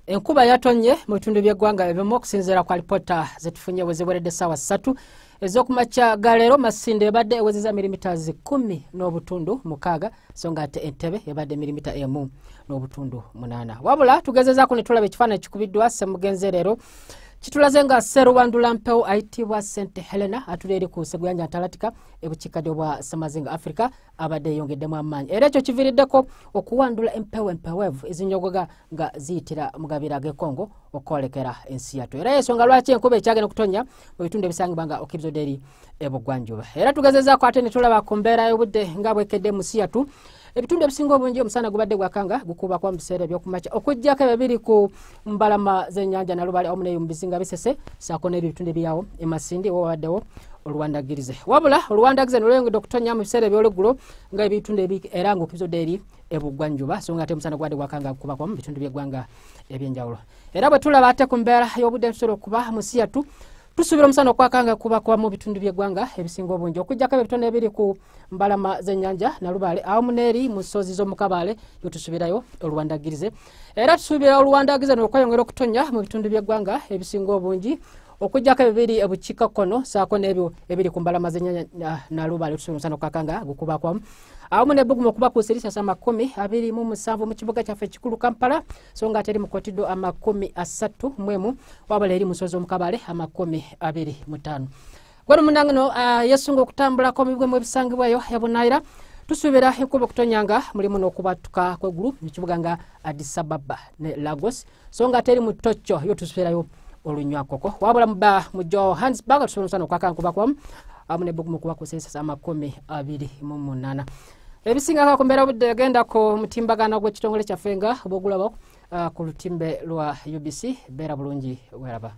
enkuba yatonye mu bitundu by'eggwanga ebimu okusinziira ku alipoota zetufunye weziweredde saawa ssatu ez'okumakya ga leero masinde ebadde ewezeza mirimita zikumi n'obutundu mukaaga so nga ate entebe ebadde mirimita emu n'obutundu munaana wabula tugezezaako ne tulaba ekifaananyi ekikubiddwa semugenze leero kitulaze nga serubandula mpewo ayitibwa sente helena atuli eri ku seguyanja ntalatika ebukiikadde obwa semazinga africa abadde yeyongeddemu amaanyi era ekyo kiviiriddeko okuwandula empewo empewevu ezinyogoga nga ziyitira mu gabira g'ekongo okwolekera ensi yattu era yensonga lwaki enkuba ekyagenda okutonya mu bitundu ebisangibwa nga okibzoderi ebugwanjuba era tugezezaako ate ne tulaba ku mbeera y'obudde nga bwekedde mu nsi yattu ebitundu ebisinga obungi omusana gubadde gwakanga gukuba kuba mu biseera ebyokumakya okuggyako ebyo biri ku mbalama zenyanja nalubale awamu neyo mubizinga bisese sako nebyo bitundu ebyawo emasindi wabaddewo oluwandagirize wabula oluwandagirize nolweyongedde okutonya mu biseera ebyolweggulo nga ebitundu era nga okizodde eri ebuggwanjuba so nga ate omusana gwade gwakanga kubakwa mu bitundu byeggwanga ebyenjawulo era bwe tulaba ate ku mbeera y'obudde nsobola okuba musiyatu tusuubira omusana okwakanga kubakwa mu bitundu byeggwanga ebisinga obungi okujjako ebyo bitone ebiri ku mbalama zenyanja nalubaale awamu neeri mu ssozi z'omukabaale yotusuubirayo oluwandagirize era tusuubira oluwandagiza nokweyongera okutonya mu bitundu by'eggwanga ebisinga obungi okujjako ebibiri ebukiika kkono saako n'ebyo ebiri ku mbalama zenyanya ah, nalubaale tusuumusana okukakanga gukubakwa awamu nebbugumu okuba ku sirisasa amakumi abiri mu musanvu mu kibuga kyaffe ekikulu kampala so nga ate eri mukotiddwa amakumi asatu mwemu wabula eri musozi omukabale amakumi abiri mutaano wali munange no ah, yesunga okutambulako mubibwe mu ebisangibwayo yabunayira tusuubira enkuba okutonyanga mulimu n'okubattuka kwegulu mu kibuga nga adisababa ne lagos so nga teri mu tokyo yo tusuubirayo olunywakoko wabula muba mu johannesburg tusobola omusana okwakankuba kwamu amu ne bugumu kuba kusensesa amakumi abiri mu munana ebisingako ku mbeera budde egenda ku mutimbagano gw'ekitongole kyaffe nga bwogulaba ah, ku lutimbe lwa ubc beera bulungi weraba